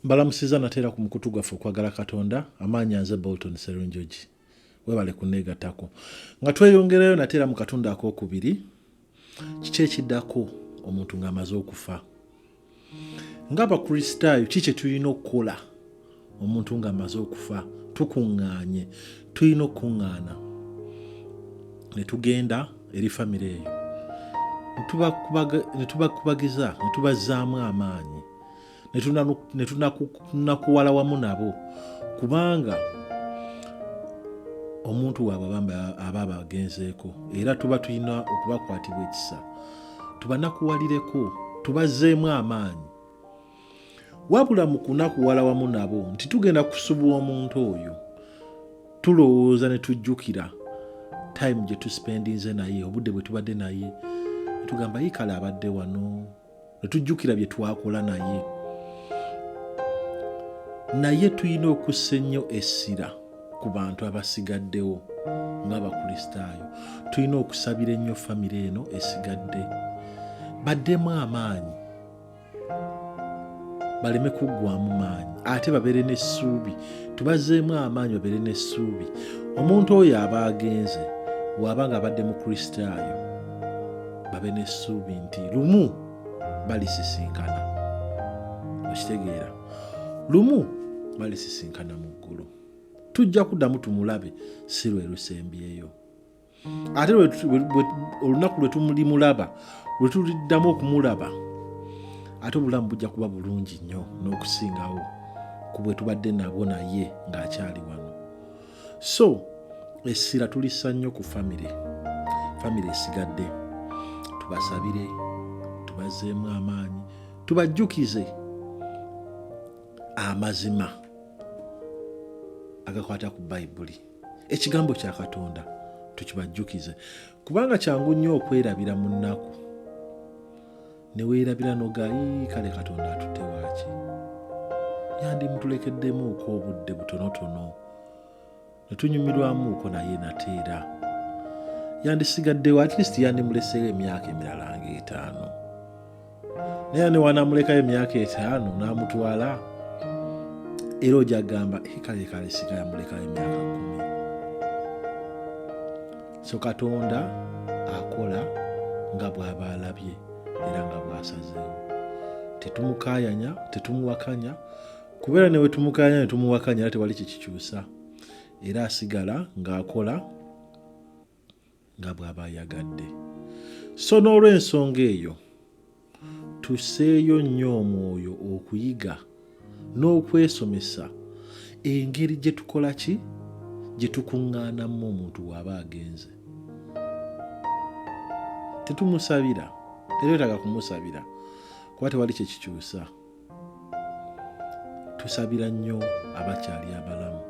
mbalamusiza nateera ku mukutu gwaffe okwagala katonda amaanya nze bolton serunjogi webale kuneegatako nga tweyongerayo nateera mu katundu akokubiri kiki ekiddako omuntu ng'amaze okufa ng'abakristaayo ki kye tulina okukola omuntu ng'amaze okufa tukuŋŋaanye tulina okukuŋŋaana ne tugenda eri famire eyo ne tubakubagiza ne tubazzaamu amaanyi ne tunakuwala wamu nabo kubanga omuntu waabwe bambi aba abagenzeeko era tuba tulina okubakwatibwa ekisa tubanakuwalireko tubazeemu amaanyi wabula mu kunakuwala wamu nabo nti tugenda kusubwa omuntu oyo tulowooza ne tujjukira time gye tuspendinze naye obudde bwe tubadde naye tugamba yikale abadde wano ne tujjukira bye twakola naye naye tulina okussa ennyo essira ku bantu abasigaddewo ng'abakristaayo tulina okusabira ennyo famire eno esigadde baddemu amaanyi baleme kuggwamu maanyi ate babeere n'essuubi tubazeemu amaanyi babeere n'essuubi omuntu oyo aba agenze waaba nga abadde mukristaayo babe n'essuubi nti lumu balisisinkana okitegeera lumu balisisinkana mu ggulu tujja kuddamu tumulabe si lwe lusembyeyo ate olunaku lwe tumulimulaba lwe tuliddamu okumulaba ate obulamu bujja kuba bulungi nnyo n'okusingawo ku bwe tubadde nabwo naye ng'akyali wano so essira tulissa nnyo ku famire famire esigadde tubasabire tubazeemu amaanyi tubajjukize amazima agakwata ku bayibuli ekigambo kya katonda tukibajjukize kubanga kyangu nnyo okwerabira mu nnaku ne weerabira noga yii kale katonda atutte waaki yandimutulekeddemuuko obudde butonotono ne tunyumirwamuuko naye nateera yandisigaddewo atleast yandimuleseewo emyaka emirala nga etaano naye ne wanamulekayo emyaka etaano n'amutwala era ojagamba kale kale sigayamulekayo emyaka kumi so katonda akola nga bw'aba alabye era nga bw'asazeewo tetumukaayanya tetumuwakanya kubeera ne wetumukaayanya ne tumuwakanya era tewali kyekikyusa era asigala ng'akola nga bw'aba ayagadde so n'olw'ensonga eyo Tusseeyo nnyo omwoyo okuyiga n'okwesomesa engeri gye tukola ki gye tukuŋŋaanamu omuntu waaba agenze. Tetumusabira, tetwetaaga kumusabira kuba tewali kye kikyusa. tusabira nnyo abakyali abalamu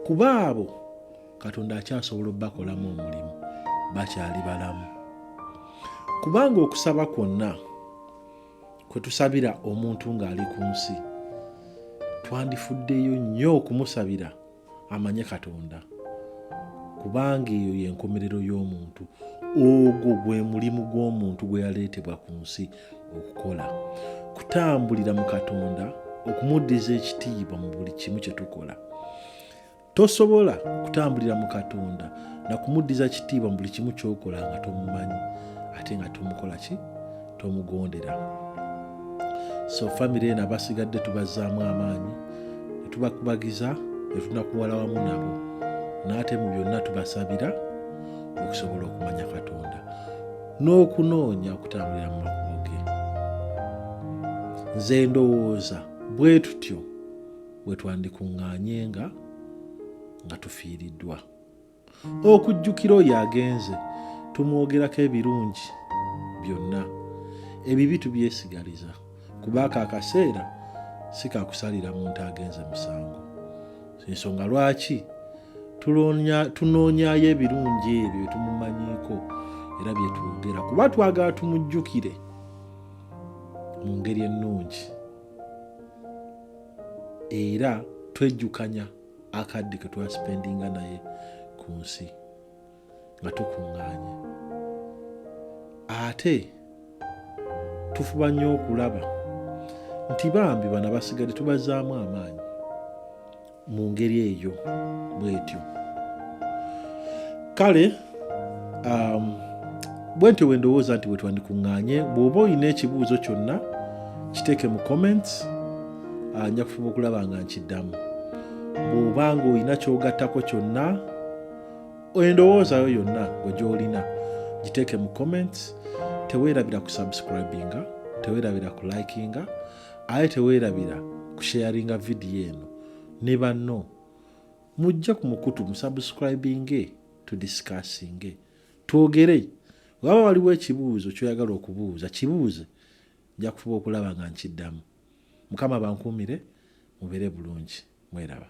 kuba abo katonda akyasobola okubakolamu omulimu bakyali balamu kubanga okusaba kwonna kwe tusabira omuntu ng'ali ku nsi twandifuddeyo nnyo okumusabira amanye katonda kubanga eyo yenkomerero y'omuntu ogwo gwe mulimu gw'omuntu gwe yaleetebwa ku nsi okukola kutambulira mu katonda okumuddiza ekitiibwa mu buli kimu kye tukola tosobola kutambulira mu katonda nakumuddiza kitiibwa mu buli kimu kyokola nga tomumanyi ate nga tomukola ki tomugondera so famiry eno abasigadde tubazzaamu amaanyi netubakubagiza netunakuwala wamu nabo naate mu byonna tubasabira okusobola okumanya katonda n'okunoonya okutambulira mu makubo ge nze ndowooza bwe tutyo bwe twandikuŋŋaanye nga nga tufiiriddwa okujjukira oyo agenze tumwogerako ebirungi byonna ebibi tubyesigaliza kuba ako akaseera si kakusalira muntu agenze musango ensonga lwaki tunoonyayo ebirungi ebyo byetumumanyiiko era byetwogera kuba twagala tumujjukire mu ngeri ennungi era twejjukanya akadde ke twasipendinga naye ku nsi nga tukuŋŋaanye ate tufuba nnyo okulaba nti bambi bana basigadde tubazaamu amaanyi mu ngeri eyo bwetyo kale um, bwe ntyo bwe ndowooza nti bwe twandikuŋŋaanye bw'oba olina ekibuuzo kyonna kiteeke mu comments ah, nja kufuba okulaba nga nkiddamu bw'oba ng'olina kyogattako kyonna endowoozayo yonna gwe gy'olina giteeke mu comments teweerabira ku subscribinga teweerabira ku likinga aye teweerabira ku sharinga vidiyo eno ne banno mujje ku mukutu musubscribinge tudisikasinge twogere waba waliwo ekibuuzo kyoyagala okubuuza kibuuze nja kufuba okulaba nga nkiddamu mukama bankuumire mubeere bulungi mweraba